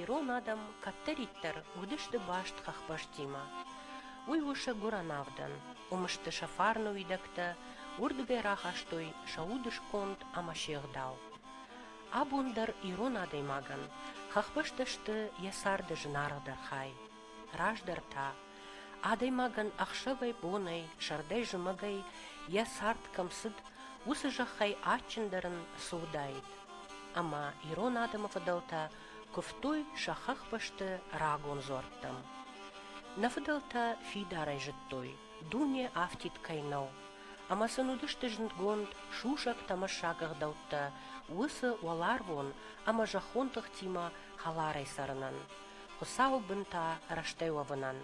ирон адӕм кӕддӕриддӕр уыдысты баст хӕхбӕстимӕ. Уый у сӕ гуыранавдӕн, уым сты сӕ фарны уидӕгтӕ, уырдыгӕй рахастой сӕ удысконд ӕмӕ се гъдау. Абон дӕр ирон адӕймагӕн хӕхбӕстӕ сты йӕ царды зынаргъдӕр хай. Раздӕр та, адӕймагӕн ӕхсӕвӕй-бонӕй, сӕрдӕй-зымӕгӕй йӕ цард кӕм цыд, уыцы зӕххӕй адджындӕр ын цы уыдаид. Ӕмӕ ирон адӕмы фыдӕлтӕ куывтой сӕ хӕхбӕсты рагон дзуӕрттӕм. Нӕ фыдӕлтӕ фидарӕй зыдтой, дуне афтид кӕй нӕу, ӕмӕ сын уыдысты зындгонд сусӕг-тӕмӕссаг ӕгъдӕуттӕ уыцы уӕларвон ӕмӕ зӕххон тыхтимӕ хӕларӕй цӕрынӕн. Хуыцауы бын та рӕстӕй уӕвынӕн.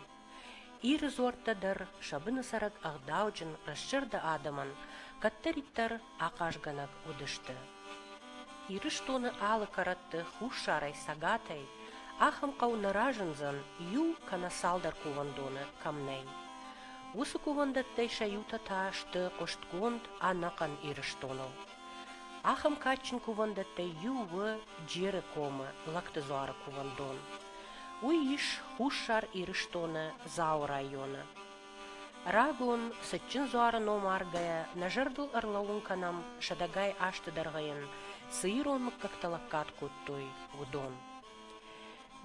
Иры дзуӕрттӕ дӕр сӕ быны цӕрӕг ӕгъдауджын, рӕстзӕрдӕ адӕмӕн кӕддӕриддӕр ахъазгӕнӕг уыдысты. Ирыстоны алы кӕрӕтты хуссарӕй, цӕгатӕй ахӕм хъӕу нӕ разындзӕн иу кӕнӕ цалдӕр кувӕндоны кӕм нӕй. Уыцы кувӕндӕттӕй сӕ иутӕ та сты хъуыстгонд ӕнӕхъӕн Ирыстоныл. Ахӕм кадджын кувӕндӕттӕй иу у Джеры комы Лӕгтыдзуары кувӕндон. Уый ис Хуссар Ирыстоны Дзауы районы. Рагон, цытджын дзуары ном аргӕйӕ, нӕ зӕрдыл ӕрлӕууын кӕнӕм, сӕдӕгай азты дӕргъы йын цы ирон мыггӕгтӕ лӕггад кодтой, уыдон.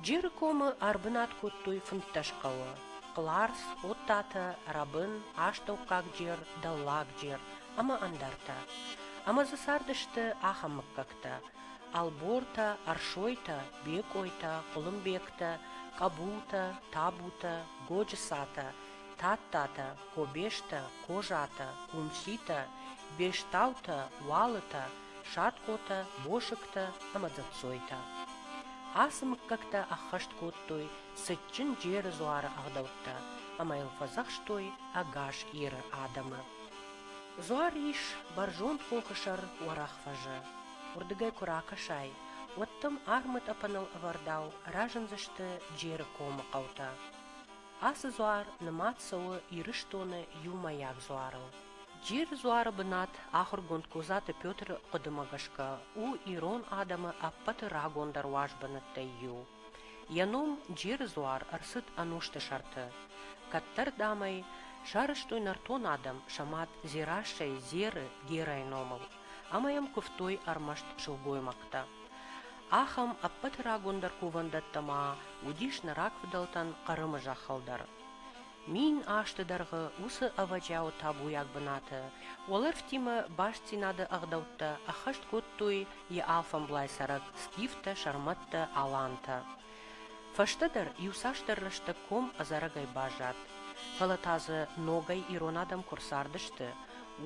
Джеры комы ӕрбынат кодтой фынддӕс хъӕуы: Хъларс, Оттатӕ, Рӕбын, Астӕуккаг Джер, Дӕллаг Джер ӕмӕ ӕндӕртӕ. Ӕмӕ дзы цардысты ахӕм мыггӕгтӕ: Ӕлбортӕ, Ӕрсойтӕ, Бекъойтӕ, Хъуылымбегтӕ, Къӕбултӕ, Табутӕ, Годжысатӕ, Тадтатӕ, Кобестӕ, Козатӕ, Хъунситӕ, Бестаутӕ, Уалытӕ, садхъотӕ, мосыгтӕ ӕмӕ дзӕццойтӕ. Ацы мыггӕгтӕ ӕххӕст кодтой цытджын Джеры дзуары ӕгъдӕуттӕ ӕмӕ йыл фӕдзӕхстой ӕгас Иры адӕмы. Дзуар ис бӕрзонд хохы сӕр Уӕрӕхфӕзы. Уырдыгӕй куы ракӕсай, уӕд дӕм армытъӕпӕныл ӕвӕрдау разындзысты Джеры комы хъӕутӕ. Ацы дзуар нымад цӕуы Ирыстоны иумӕйаг дзуарыл. Джир дзуары бынат ахуыргонд Козаты Петры хъуыдымӕ гӕсгӕ у ирон адӕмы ӕппӕты рагондӕр уӕзбынӕттӕй иу. Йӕ ном Джиры дзуар ӕрцыд ӕнусты сӕрты. Кӕддӕр, дам ӕй сарӕзтой нӕртон адӕм сӕ мад Дзерассӕйы Дзеры Герӕйы номыл, ӕмӕ йӕм куывтой ӕрмӕст сылгоймӕгтӕ. Ахӕм ӕппӕты рагондӕр кувӕндӕттӕ ма уыдис нӕ рагфыдӕлтӕн Хъырымы зӕххыл дӕр. Мин азты дӕргъы уыцы ӕвӕджиауы табуйаг бынаты уӕлӕрвтимӕ бастдзинады ӕгъдӕуттӕ ӕххӕст кодтой йӕ алфӕмблай цӕрӕг скифтӕ, сӕрмӕттӕ, алантӕ. Фӕстӕдӕр иуцасдӕр рӕстӕг ком ӕдзӕрӕгӕй баззад, фӕлӕ та дзы ногӕй ирон адӕм куы рцардысты,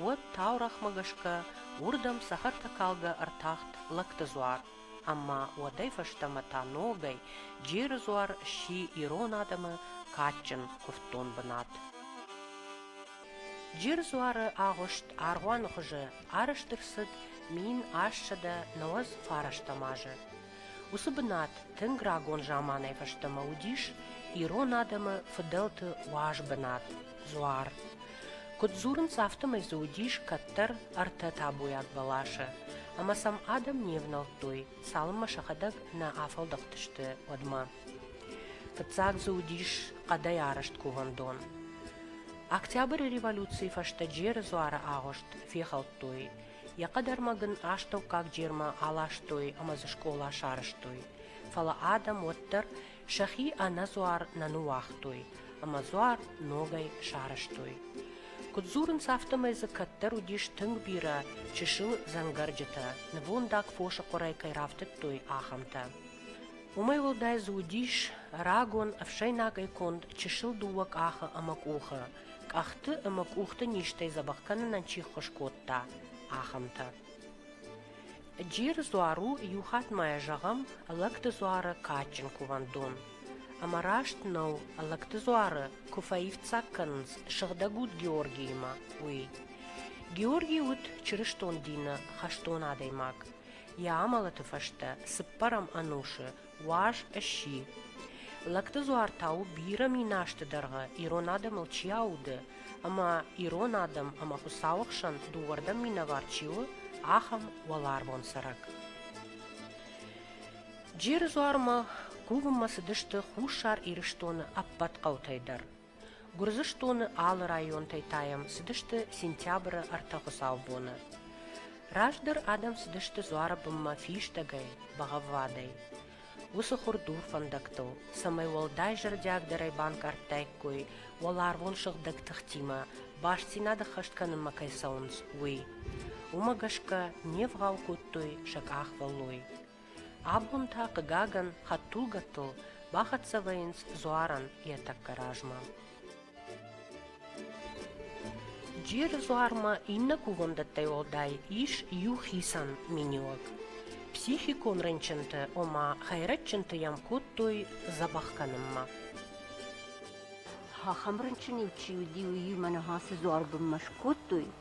уӕд таурӕгъмӕ гӕсгӕ уырдӕм цӕхӕртӕкалгӕ ӕртахт лӕгты дзуар, ӕмӕ уӕдӕй фӕстӕмӕ та ногӕй Джеры дзуар сси ирон адӕмы кадджын куывддон бынат. Джеры дзуары агъуыст аргъуаны хуызы арӕзт ӕрцыд мин ассӕдӕ нӕуӕдз фарастӕм азы. Уыцы бынат тынг рагон заманӕй фӕстӕмӕ уыдис ирон адӕмы фыдӕлты уаз бынат Дзуар. Куыд дзурынц, афтӕмӕй дзы уыдис кӕддӕр ӕртӕ табуйаг бӕласы, ӕмӕ сӕм адӕм не внӕлдтой, цалынмӕ сӕхӕдӕг нӕ афӕлдӕхтысты, уӕдмӕ. Фыццаг дзы уыдис хъӕдӕй арӕзт кувӕндон. Октябры революцийы фӕстӕ Джеры дзуары агъуыст фехӕлдтой, Йӕ хъӕдӕрмӕг ын астӕуккаг джермӕ аластой ӕмӕ дзы скъола сарӕзтой. Фӕлӕ адӕм уӕддӕр сӕхи ӕнӕдзуар нӕ ныууагътой ӕмӕ дзуар ногӕй сарӕзтой. Куыд дзурынц, афтӕмӕй дзы кӕддӕр уыдис тынг бирӕ чысыл дзӕнгӕрджытӕ, нывондаг фосы хъуырӕй кӕй рафтыдтой, ахӕмтӕ. Уымӕй уӕлдай дзы уыдис рагон ӕфсӕйнагӕй конд чысыл дыууӕ къахы ӕмӕ къухы, къӕхты ӕмӕ къухты низтӕй дзӕбӕх кӕнынӕн чи ххуыс кодта, ахӕмтӕ. Джиры дзуар у, иу хатт ма йӕ зӕгъӕм, Лӕгты дзуары кадджын кувӕндон. Ӕмӕ раст нӕу, Лӕгты дзуары куы фӕивддзаг кӕнынц Сыгъдӕг Уд Георгиимӕ, уый. Георги уыд чырыстон дины хӕстон адӕймаг. Йӕ амӕлӕты фӕстӕ цыппӕрӕм ӕнусы Уаз сси. Лӕгты дзуар та у бирӕ мин азты дӕргъы ирон адӕмыл чи ауды, ӕмӕ ирон адӕм ӕмӕ Хуыцауы хсӕн дыууӕрдӕм минӕвар чи у, ахӕм уӕларвон цӕрӕг. Джеры дзуармӕ кувынмӕ цыдысты Хуссар Ирыстоны ӕппӕт хъӕутӕй дӕр. Гуырдзыстоны алы районтӕй тайӕм цыдысты сентябры ӕртӕ хуыцаубоны. Раздӕр адӕм цыдысты дзуары бынмӕ фистӕгӕй, бӕгъӕввадӕй. Уыцы хуыр дур фӕндӕгтыл, цӕмӕй уӕлдай зӕрдиагдӕрӕй банкъардтаиккой уӕларвон сыгъдӕг тыхтимӕ, бастдзинад ӕххӕст кӕнынмӕ кӕй цӕуынц, уый. Уымӕ гӕсгӕ не вгъау кодтой сӕ къахвӕллой. Абон та, хъыгагӕн, хӕдтулгӕтыл бахӕццӕ вӕййынц дзуарӕн йӕ тӕккӕ размӕ. Джеры дзуармӕ иннӕ кувӕндӕттӕй уӕлдай ис иу хицӕн миниуӕг. Психикон рынчынты, ома хӕйрӕджджынты йӕм кодтой дзӕбӕх кӕнынмӕ. Ахӕм рынчын-иу чи уыди, уыимӕ ныхасы дзуар бынмӕ скодтой,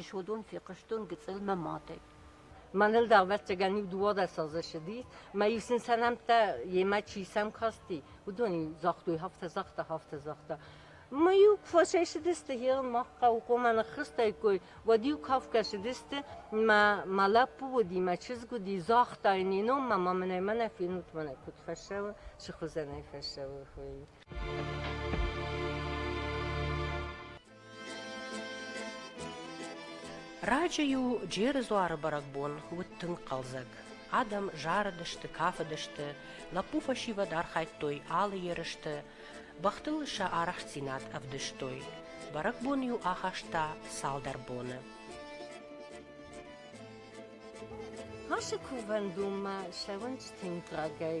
Исходон фехъуыстон гыцъылмӕ мӕтӕй. Мӕныл дӕрбӕрццагӕн-иу дыууадӕс азы ссыди, мӕ иу сын сӕ нӕмттӕ йемӕ чи сӕм касти, уыдон-иу загътой, афтӕ, загъта, афтӕ, загъта. Мы-иу куы фӕсайсыдысты херыл мах хъӕуы, коммӕ ныххызтаиккой, уӕд-иу кафгӕсыдысты, мӕ, мӕ лӕппу уыди, мӕ чызг уыди, загъта, не ном ма маманӕй мӕнӕ фенут, мӕнӕ куыд фӕссӕуы, сыхуызӕнӕй фӕссӕуы, хуыйы. Раджы-иу Джеры дзуары бӕрӕгбон уыд тынг хъӕлдзӕг. Адӕм зарыдысты, кафыдысты, лӕппу фӕсивӕд архайдтой алы ерысты, бӕхтыл сӕ арӕхстдзинад ӕвдыстой. Бӕрӕгбон-иу ахаста цалдӕр боны. Ашы кувӕндонмӕ сӕ уӕнчытин брагӕй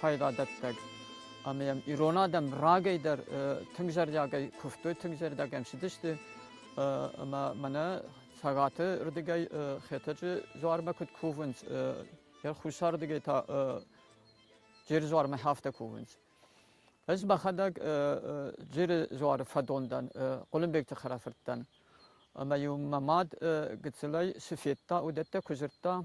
файдадӕттӕг. Ӕмӕ йӕм ирон адӕм рагӕй дӕр тынг зӕрдиагӕй куывтой, тынг зӕрдиагӕн сидысты. Ӕмӕ мӕнӕ Цӕгаты рдыгӕй Хетӕджы дзуармӕ куыд кувынц, йӕ хуссардыгӕй та Джиры дзуармӕ афтӕ кувынц. Ӕз мӕхӕдӕг Джиры дзуары фӕдон дӕн, Хъуылымбегты хӕрӕфырт дӕн. Ӕмӕ-иу мӕ мад гыццылӕй цы федта, уыдӕттӕ куы дзырдта,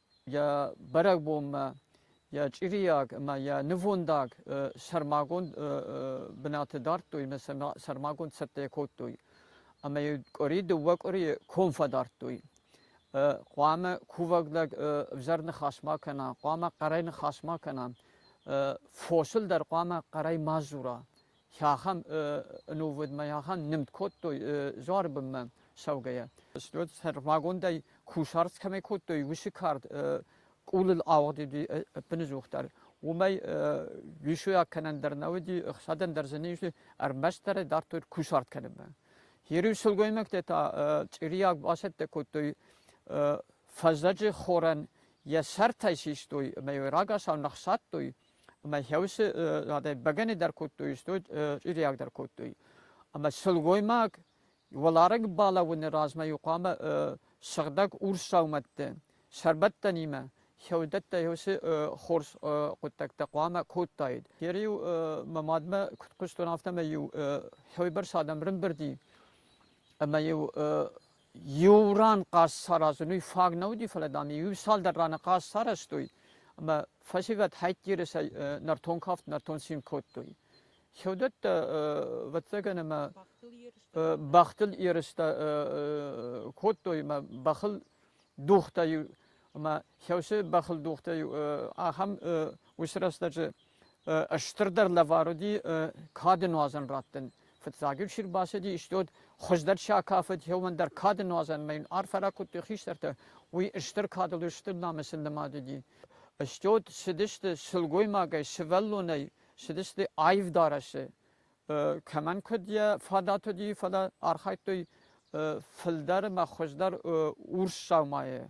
йӕ бӕрӕгбонмӕ йӕ чъирийаг ӕмӕ йӕ нывондаг сӕрмагонд бынаты дардтой ӕмӕ сӕрмагонд цӕттӕ кодтой. Ӕмӕ йын къуыри дыууӕ къуырийы ком фӕдардтой. Хъуамӕ кувӕг лӕг ӕвзӕр ныхас ма кӕна, хъуамӕ хъӕрӕй ныхас ма кӕна, фосыл дӕр хъуамӕ хъӕрӕй ма дзура. Хахам нувыдмӕ ахӕм нымд кодтой дзуары бынмӕ цӕугӕйӕ. Стӕй сӕрмагондӕй кусарц кӕмӕй кодтой, уыцы кард къулыл ауыгъд уыди ӕппыныдзух дӕр. Уымӕй рисуйаг кӕнӕн дӕр нӕ уыди, ӕхсадӕн дӕр дзы не уыди, ӕрмӕстдӕр дардтой кусарт кӕнынмӕ. Иры сылгоймӕгтӕ та чъирийаг басӕттӕ кодтой фӕззӕджы хорӕн йӕ сӕртӕй систой ӕмӕ йӕ рагацау ныхсадтой Ӕма хеуси бӕгӕни дӕр кодтой, стуй чъириаг дӕр кодтой. Ӕма силгоймаг уӕлараг балӕуӕни размӕ хъуамӕ сыгъдӕг урс саумӕттӕ сӕрбӕттӕн имӕ хеудӕттӕ еуси хорз хъуддӕгтӕ хъуамӕ кодтаид. Ери-иу мӕ мадмӕ куд хъустон, афтӕмӕй-иу хеуйбӕрц адӕм рымбурди ӕма-иу Иу ран хъаз саразын уый фаг нӕ уыди, фӕлӕ, дам, иу цалдӕр раны хъаз сарӕзтой, ӕмӕ фӕсивӕд хӕйтдиры сӕ нӕртон кафт нӕртон цин кодтой. Se odată vățăgăn mă бахтыл ерыстэ кодтой мӕ бахыл дугътӕй мӕ хӕусы бахыл дугътӕй ахӕм ус рӕстӕджы стырдӕр лӕвар уыди кады нуазӕн раттын. Фыццаг-иу чи рбацыди, исты уыд хуыздӕр чи акафыд, уымӕн дӕр кады нуазӕнмӕ йын арфӕ ракодтой хистӕртӕ, уый стыр кадыл, стыр намысы нымад уыди. Стӕй уд цыдысты сылгоймагӕй, сывӕллонӕй, цыдысты аив дарӕсы. Кӕмӕн куыд йӕ фадат уыди, фӕлӕ архайдтой фылдӕр ӕмӕ хуыздӕр урс саумайы.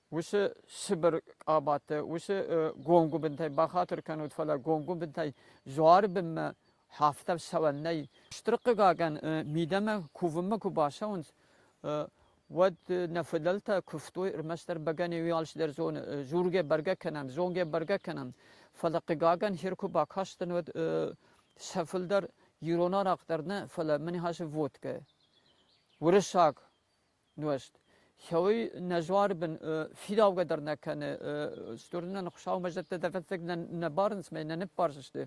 уыцы цыбыр къабатты, уыцы гонгуыбынтӕй бахатыр кӕнут, фӕлӕ гонгуыбынтӕй дзуары бынмӕ хафтӕ цӕуӕн нӕй. Стыр хъыгагӕн, мидӕмӕ кувынмӕ куы бацӕуынц, уӕд нӕ фыдӕлтӕ куывтой ӕрмӕстдӕр бӕгӕны уӕлс дӕр зоны, дзургӕ бӕргӕ кӕнӕм, зонгӕ бӕргӕ кӕнӕм, фӕлӕ хъыгагӕн хир куы бакастӕн, уӕд сӕ фылдӕр ирон арахъ дӕр нӕ, фӕлӕ мын хӕссы водкӕ. Уырыссаг нуӕзт. Хеуй нӕ зуарбын фидаугӕ дӕр нӕ кӕны. Стор нӕ Хуыщаумӕ зӕдтӕ дӕр ӕвӕццӕг нӕ барынц мӕ нӕ ныббарзысты.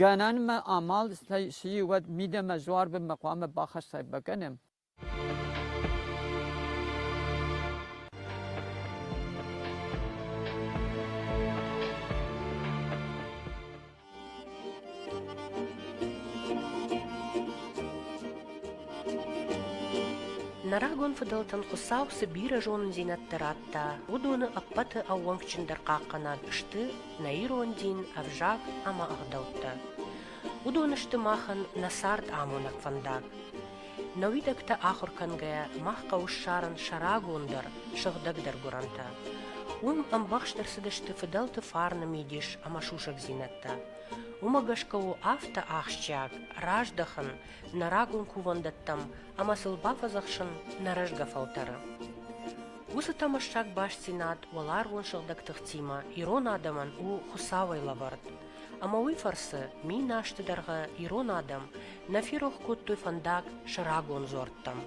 Гӕнӕнмӕ амал сси уӕд мидӕмӕ зуарбынмӕ хъуамӕ бахӕссай бакӕнӕм. Нӕ рагон фыдӕлтӕн Хуыцау цы бирӕ зонындзинӕдтӕ радта, уыдоны ӕппӕты ӕууӕнкджындӕр хъахъхъӕнӕг сты нӕ ирон дин, ӕвзаг ӕмӕ ӕгъдӕуттӕ. Уыдон сты махӕн нӕ цард амонӕг фӕндаг. Нӕ уидӕгтӕ ахуыр кӕнгӕйӕ мах хъӕуы ссарын сӕ рагондӕр, сыгъдӕгдӕр гуырӕнтӕ. Уым ӕмбӕхст ӕрцыдысты фыдӕлты фарны мидис ӕмӕ сусӕгдзинӕдтӕ. Уымӕ гӕсгӕ у афтӕ ахсджиаг раздӕхын нӕ рагон кувӕндӕттӕм ӕмӕ сыл бафӕдзӕхсын нӕ рӕзгӕ фӕлтӕры. Уыцы тӕмӕссаг бастдзинад уӕларвон сыгъдӕг тыхтимӕ ирон адӕмӕн у Хуыцауӕй лӕвӕрд. Ӕмӕ уый фӕрцы мин азты дӕргъы ирон адӕм нӕ ферох кодтой фӕндаг сӕ рагон дзуӕрттӕм.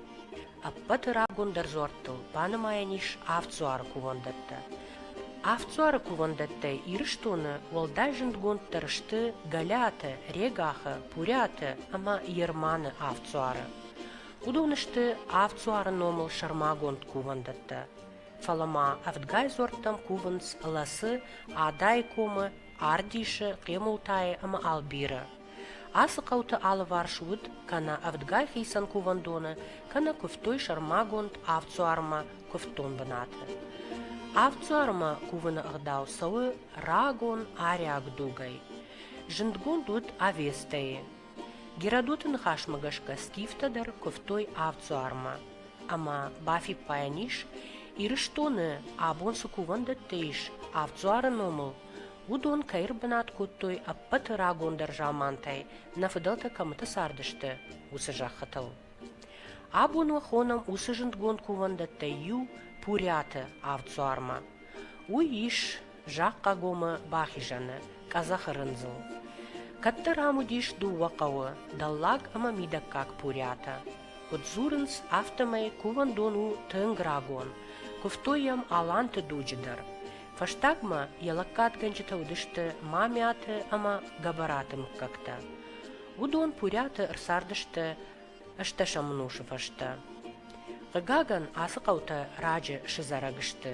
Ӕппӕты рагондӕр дзуӕрттыл банымайӕн ис авд дзуары кувӕндӕттӕ. Авд дзуары кувӕндӕттӕй Ирыстоны уӕлдай зындгонддӕр сты Галиаты, Регахы, Пурӕты ӕмӕ Ерманы авд дзуары. Уыдон сты авд дзуары номыл сӕрмагонд кувӕндӕттӕ. Фӕлӕ ма ӕвдгай дзуӕрттӕм кувынц Лӕсы, Адай комы Ардисы, Хъемултайы ӕмӕ Албиры. Ацы хъӕуты алыварс уыд кӕнӕ ӕвдгай хицӕн кувӕндоны, кӕнӕ куывтой сӕрмагонд авдсуармӕ куывддон бынаты. Авдсуармӕ кувыны ӕгъдау цӕуы рагон ариаг дугӕй. Зындгонд уыд Авестӕйы, Геродоты ныхасмӕ гӕсгӕ скифтӕ дӕр куывтой авд дзуармӕ, ӕмӕ бафиппайӕн ис, Ирыстоны абон цы кувӕндӕттӕ ис авд дзуары номыл, уыдон кӕй ӕрбынат кодтой ӕппӕты рагондӕр замантӕй, нӕ фыдӕлтӕ кӕмыты цардысты, уыцы зӕххытыл. Абон уӕ хонӕм уыцы зындгонд кувӕндӕттӕй иу Пурӕты авд дзуармӕ. Уый ис Захъхъагомы бахизӕны, къӕдзӕхы рындзыл. Кӕддӕр ам уыдис дыууӕ хъӕуы – дӕллаг ӕмӕ мидӕггаг Пурӕтӕ. Куыд дзурынц, афтӕмӕй кувӕндон у тынг рагон. Куывтой йӕм Аланты дуджы дӕр. Фӕстагмӕ йӕ лӕггадгӕнджытӕ уыдысты Мамиаты ӕмӕ Гӕбӕраты мыггӕгтӕ. Уыдон Пурӕты ӕрцардысты ӕстӕсӕм ӕнусы фӕстӕ. Хъыгагӕн, ацы хъӕутӕ раджы сызарӕг сты,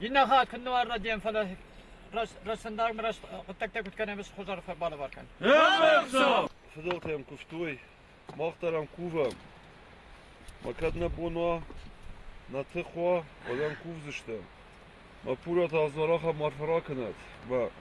Иннӕ хатт куыннӕ уарра дем, фӕлӕ Росстандармы раз хъуыддӕгтӕ куыд кӕнӕм, ӕз хуызӕр фӕбалӕвар кӕн. Фыдӕлтӕ йӕм куывтой, мах дӕр ӕм кувӕм. Ма кӕд нӕ бон уа, нӕ тых уа, уӕд ӕм кувдзыстӕм. Мӕ пурӕт аз дӕр ахӕм арфӕ ракӕнӕд, ба.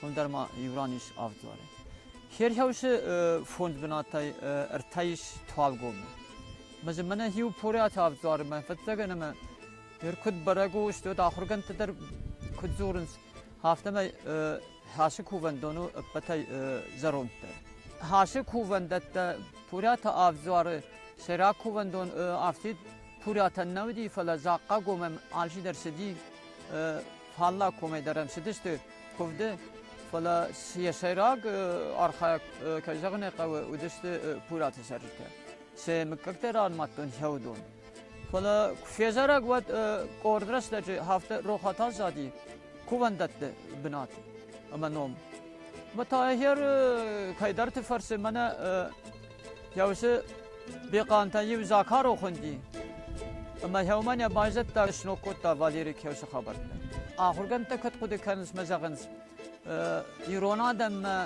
Уым дӕр ма иу ран ис авдуары. Херхаусы фонд бынатӕй ӕртӕйыс туалгомы. Мӕзы мӕнӕ иу порӕты авдуары мӕ фӕццӕгӕн ӕмӕ ныр куыд бӕрӕг у, стот ахуыргӕндтӕ дӕр куыд дзурынц, афтӕмӕй хӕсы кувӕндон у ӕппӕтӕй зӕронддӕр. Хӕсы кувӕндӕттӕ пурӕты авдуары сӕрак кувӕндон афтид пурӕтӕн нӕ уыди, фӕлӕ захъхъагомӕм алчидӕр цыди, фалла комӕй дӕр ӕм цыдысты куывды, фӕлӕ йӕ сӕйраг архайӕг, кӕй зӕгъын ӕй хъӕуы, уыдысты Пураты цӕрджытӕ. Сӕ мыггӕгтӕ ранымадтон йӕ уыдон. Фӕлӕ куы фезарӕг, уӕд къорд рӕстӕджы хафта Рохатазади кувӕндӕтты бынат ӕмӕ ном. Мӕ та ӕгӕр кӕйдӕрты фӕрцы мӕнӕ Еусе Бехъантӕн еу Закаро хунди, ӕма еумӕн ӕ байзӕдта сног кодта Валери кеусе хабӕрттӕ. Ахургӕндтӕ куд хъуди кӕнунц мӕ зӕгъынц, ирон адӕммӕ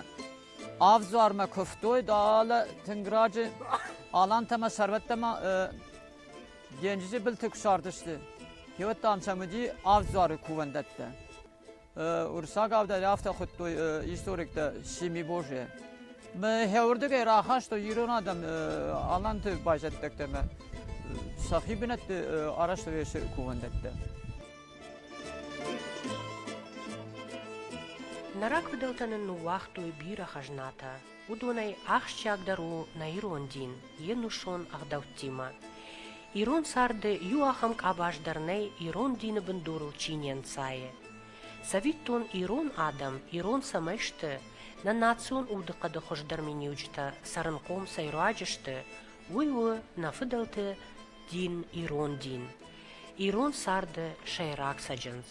ӕвзармӕ кувтой, далӕ тынг раджы алантӕмӕ сӕрвӕттӕмӕ денджизи былты кусардысты. Кеуӕттӕн сӕм уыди ӕвзары кувӕндӕттӕ. Урсаг авдӕй афтӕ хуыдтой историктӕ Сими Божье. Хӕуырдыгӕй рахастой ирон адӕм аланты байзӕддӕгтӕмӕ сӕхи бынӕтты арӕзтвӕсы кувӕндӕттӕ. Нарӕг фыдӕлтӕ нын ныууагътой бирӕ хӕзнатӕ, уыдонӕй ахсджиагдӕр у нӕ ирон дин, йе нусон ӕгъдӕуттимӕ. Ирон царды иу ахӕм къабаз дӕр нӕй, ирон дины бындурыл чи не нцайы. Цӕвиттон, ирон адӕм, ирон цӕмӕй сты, нӕ национ удыхъӕды хуыздӕр миниуджытӕ цӕрынхъом цӕй руаджы сты, уый у нӕ фыдӕлты дин, ирон дин. Ирон царды сӕйраг цӕджындз.